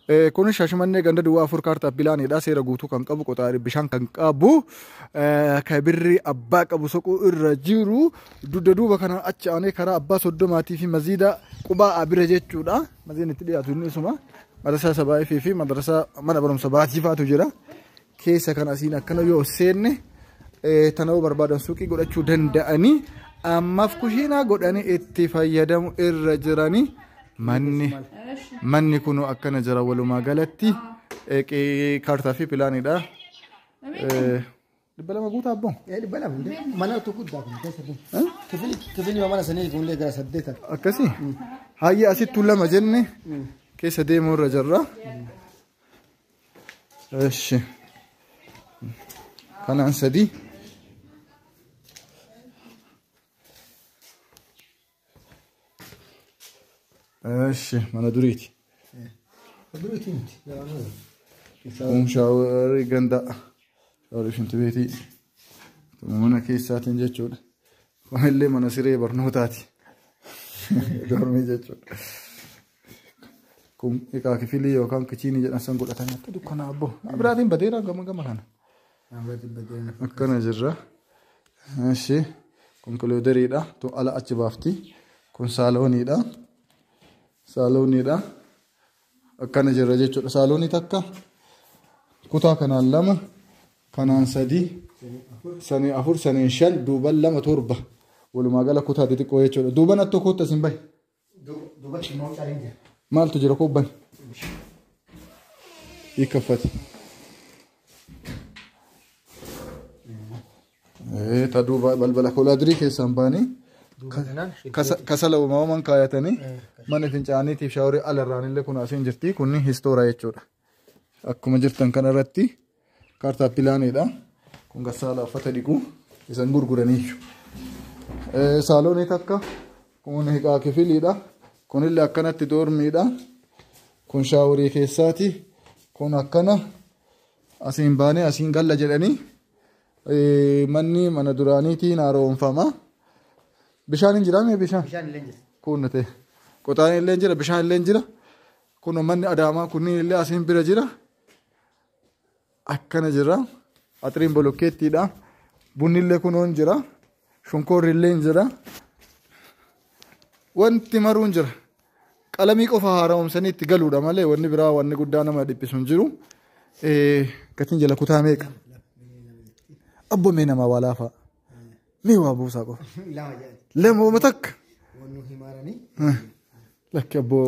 Eh, Kun shashmannee ganda duwwaa afur kaartaa pilaanidha. Seera guutuu kan qabu qoxaari bishaan kan qabu eh, kan birri abbaa qabu soquu irra jiru dugda duuba kana achi aanee karaa abbaa soddomaatii fi maziida qubaa abira jechuudha. Maziin itti dhiyaatu inni isuma. Madrasaa Sabaayifii fi madrasaa mana barumsa baasii faatu jira. keessa kan asiin akkana yoo seenne tana'uu barbaadan suuqii godhachuu danda'anii ammaaf kushiinaa godhanii itti fayyadamu irra jiranii manni manni kunuu akkana jira walumaa galatti kaartaa fi pilaanidha. Dhibba lama guutaa abboo. Dhibba lama mana utuu guddaa kun keessa kun. Kifilii mana sanii kun gara saddeeta. Akkasii hayyee asittuu lama jenne keessa deemuu irra jirra. Eshi. Kanaan sadii. Eshi mana duriiti. Duruuti miti. Yaa'amuu. Isaa Kun shaaworii ganda shaaworii shinti beetii mana keessaatiin jechuudha. Kun illee mana siree barnootaati. Dormii jechuudha. Kun egaa kifilii yookaan kichiinii jedhan san godhatanii akka dukkanaa abbo. Abiraatiin badeera gama gama kana. Akkana jirra. Eshi kun kilooderiidha. Tu ala achi baafti. Kun saalooniidha. Saalooniidha. Akkana jirra jechuudha. Saaloonii takka kutaa kanaan lama kanaan sadii sanii afur saniin shan duuban lama torba walumaa gala kutaa xixiqqoo jechuudha. Duuban attoo kootta isin bahe. Duubatti immoo cariin jira. Maaltu jira koo bani? Hiikkaffati. Ta duuba balbala koolaadirii keessaan baanii kasala uumamaan kaayatanii mana fincaaniitiif shaaworii alarraan illee kun asiin jirti kunni histoora jechuudha. Akkuma jirtan kanarratti Kaartaa pilaaneedha. Kun garsaala uffata dhiqu isan gurguraniiyyu. Saaloonii takka kun hiqaa kifiliidha. Kunillee akkanatti doormiidha. Kun shaaworii keessaati. Kun akkana asiin baanee asiin galla jedhanii manni mana duraaniitiin haaromfama. Bishaan hin jiraa mee bishaan? Bishaan illee jira. Kun ta'e. Qotaan illee jira bishaan illee jira. Kun manni adaamaa kunniin illee asiin bira jira. akkana jira axiriin bolokkeettiidha bunnillee kunoon jira shunkoorrillee jira wanti maruun jira qalamii qofa haara'umsanii itti galuudha malee wanni biraa wanni guddaa nama dhiphisu hin jiru gatiin jala kutaa meeqa abbo mee namaa waa laafaa mee waa buusaa qofa lama jedhan lama uma takka wannu himaaranii lakki abboo